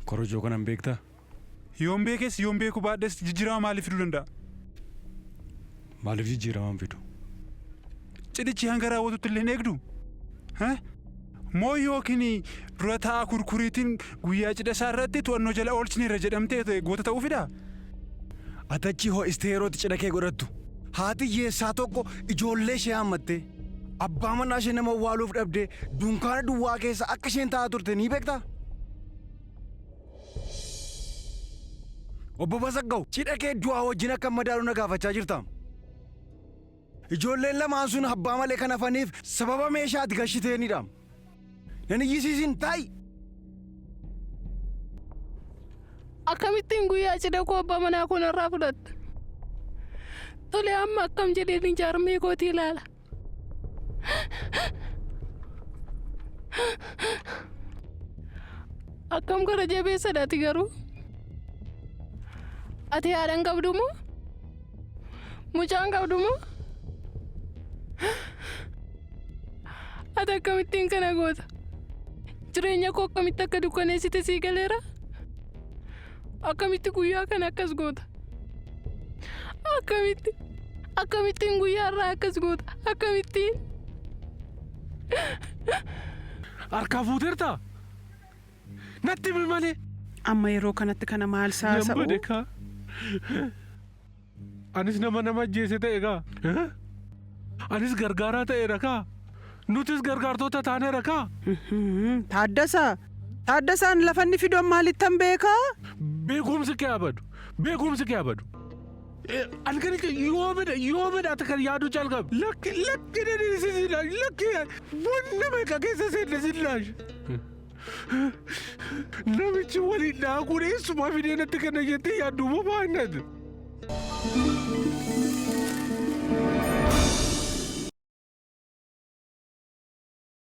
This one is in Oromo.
Korojoo kana hin beektaa? Yoon beekes yoon beekuu baadhes jijjiirama maalii fiduu danda'a? Maaliif jijjiirama hin fidu? Cidhichi hanga raawwatutti illee hin eegduu? Hah? Moo yookiin dura taa'aa kurkuriitiin guyyaa cidha isaa irratti to'annoo jala oolchineerra jedhamtee goota ta'uu fidaa? Ati achii ho'istee yeroo itti cidha kee godhattu haati hiyyeessaa tokko ijoollee ishee yaammattee. Abbaa manaa ishee nama awwaaluuf dhabdee dunkaana duwwaa keessa akka isheen taa'aa turte ni beektaa? Obbo Basaggaw, cidha kee du'aa wajjin akka madaalu na gaafachaa jirtaam. Ijoolleen lamaan sun abbaa malee kan hafaniif sababa meeshaa ati gashiteenidhaam. Nan iyyisiisin taa'i. Akkamittiin guyyaa cidha koo abbaa manaa koo narraa fudhatta? Tole amma akkam jedheen jaarmee kootii ilaala. Akkam gara jabeessadha ati garuu? Ati haadha hin qabdu moo? Mucaan qabdu moo? Ati akkamittiin kana goota? Jireenya koo akkamitti akka dukkaneessite sii galeera? Akkamitti guyyaa kana akkas goota? Akkamitti? Akkamittiin guyyaa irraa akkas goota? Akkamittiin? Harkaa fuuteertaa? Natti himi malee. Amma yeroo kanatti kana maal Nan saasa'u? bade kaa. Anis nama nama ajjeese ta'e kaa. Anis gargaaraa ta'eera kaa. Nutis gargaartoota taaneera kaa. Mhm, Taaddasaa! Taaddasaan lafa inni fidu an maalittan beekaa? Beekumsi kee abadu. Beekumsi kee abadu. Eh, Halkani kee yoo bada yoo bada ati kan yaaduu calqabe. Lakki lakki na dhiisisi laash lakki wanna meeqa keessa seenne sin laash. Namichi waliin daakuun eessumaa fidee natti kana jettee yaaddu moo baannat?